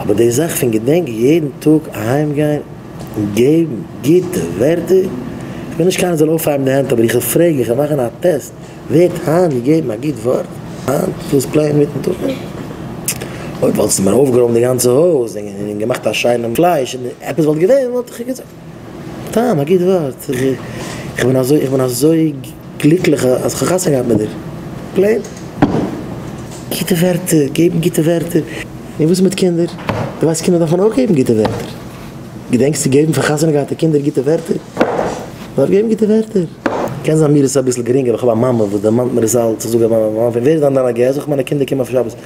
אבער די זאך פון געדענק יעדן טאג אהיים גיין און געבן גוטע ווערטער, איך בין נישט קיינער זאל אויפהייבן די הענט אבער איך וויל פרעגן איך וויל מאכן א טעסט, ווערט היינט געגעבן א גוט ווארט היינט דאס פלעין מיטן טאג? אויב וואלטסטו מיר אויפגערוימט די גאנצע הויז און געמאכט א שיינעם פלייש און עפעס וואלט געווען וואלט איך געזאגט. סתם א גוט ווארט. איך בין אזוי איך בין אזוי גליקליך אז איך האב חתונה געהאט מיט דיר. פלעין. גוטע ווערטער, געבן גוטע ווערטער. און וואס איז מיט קינדער? דו ווייסט קינדער דארפן אויך געבן גוטע ווערטער. געדענקסט צו געבן פאר חתונה געהאטע קינדער גוטע ווערטער? מען דארף געבן גוטע ווערטער. קען זיין מיר איז עס אביסל גרינג אבער איך האב א מאמע וואס דערמאנט מיר עס אלץ, איך זאג אויף מיין מאמע, ווער איז דען דיין א ג? זאג איך מיינע קינדער קומען אויף שבת.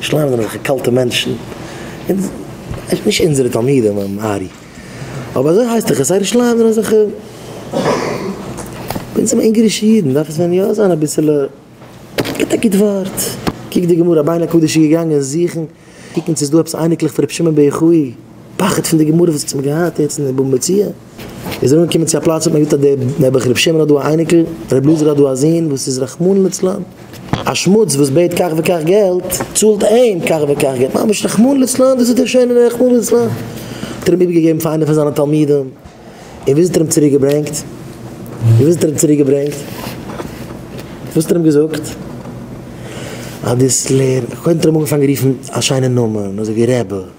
שלאנג זענען זיך קאלטע מענטשן, נישט אונזערע תלמידים און ארי, אבער אזוי הייסט דאך עס זייערע שלאנג זענען זיך, ביי אונז זענען מיר אונגארישע אידן דארף עס ווען יא זיין אביסעלע, געבט א גוט ווארט, קוק די גמרא, ביין הקדוש איז געגאנגען זוכן קוקן צו איז דא עפעס אייניקלעך פון רבי שמעון בן יוחאי, פחד פון די גמרא וואס האט מען געהאט יעצט אין באבע מציאה. איז ער אנגעקומען צו א פלאץ וואס מען זאגט אז דער נעבעך רבי שמעון האט דא א אייניקל, רבי אלעזר האט דא א זון וואס איז רחמנא לצלן, א שמוץ וואס בעט כך וכך געלט, צאלט אים כך וכך געלט, ממש רחמנא לצלן, דאס איז דער שענער רחמנא לצלן, האט ער אים איבערגעגעבן פאר איינער פון זיינע תלמידים, און וואס האט ער אים צוריק געברענגט? און וואס האט ער אים צוריק געברענגט? וואס האט ער אים געזאגט? אז דאס לערנען, קודם האט ער אים אנגעפאנגען רופן א שיינע נאמען אזוי ווי רעבע.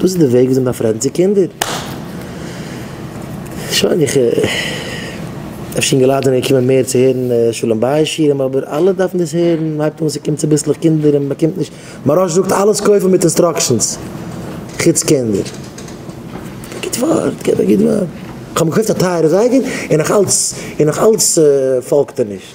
דאס איז די וועג וויאזוי מ'דארף רעדן צו קינדער. שוין איך אפשר אינגעלייט זענען געקומען מער צו הערן שלום בית שירים אבער אלע דארפן דאס הערן, מ'הייבט אן ס'קומט צוביסלעך קינדער און מ'באקומט נישט, מוהראש זאגט אלעס קויפן מיט אינסטראקשענס חוץ קינדער. א גוט ווארט געב א גוט ווארט. כ'האב מיר געקויפט א טייערע זייגער און נאך אלץ און נאך אלץ פאלגט ער נישט.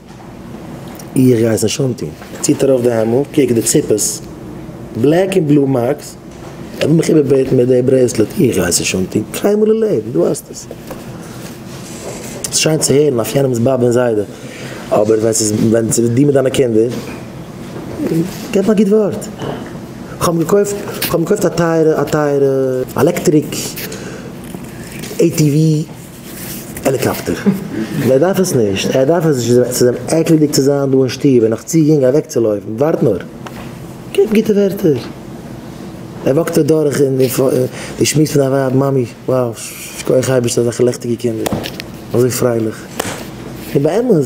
איך גיי עס נישט אנטון. ער ציט ארויף די העמל, קוק די ציפעס, בלעק און בלו מארקס, ער וויל מיך איבערבעטן מיט די ברעיסלעט, איך גיי עס נישט אנטון קיינמאל אין לעבן, דו האסט עס. ס'איז שיין צו הערן אויף יענעמ'ס באבע און זיידע, אבער ווען ס'איז ווען ס'איז דו מיט דיינע קינדער, גיב א גוט ווארט. כ'האב מיר געקויפט, כ'האב מיר געקויפט א טייערע, א טייערע עלעקטעריק עי טי ווי. העליקאפטער. דער דארף עס נישט, ער דארף עס נישט, ס'איז אים עקלדיג צו זיין דא אין שטוב און נאך צו יונג אוועקצולויפן. ווארט נאר, געב גוטע ווערטער. ער וואקט אדורך און די שמועס פון א ווייב, מאמי, וואו, שכוח אייבערשטער אזעלכע לעכטיגע קינדער, אזוי פרייליך. און באמת.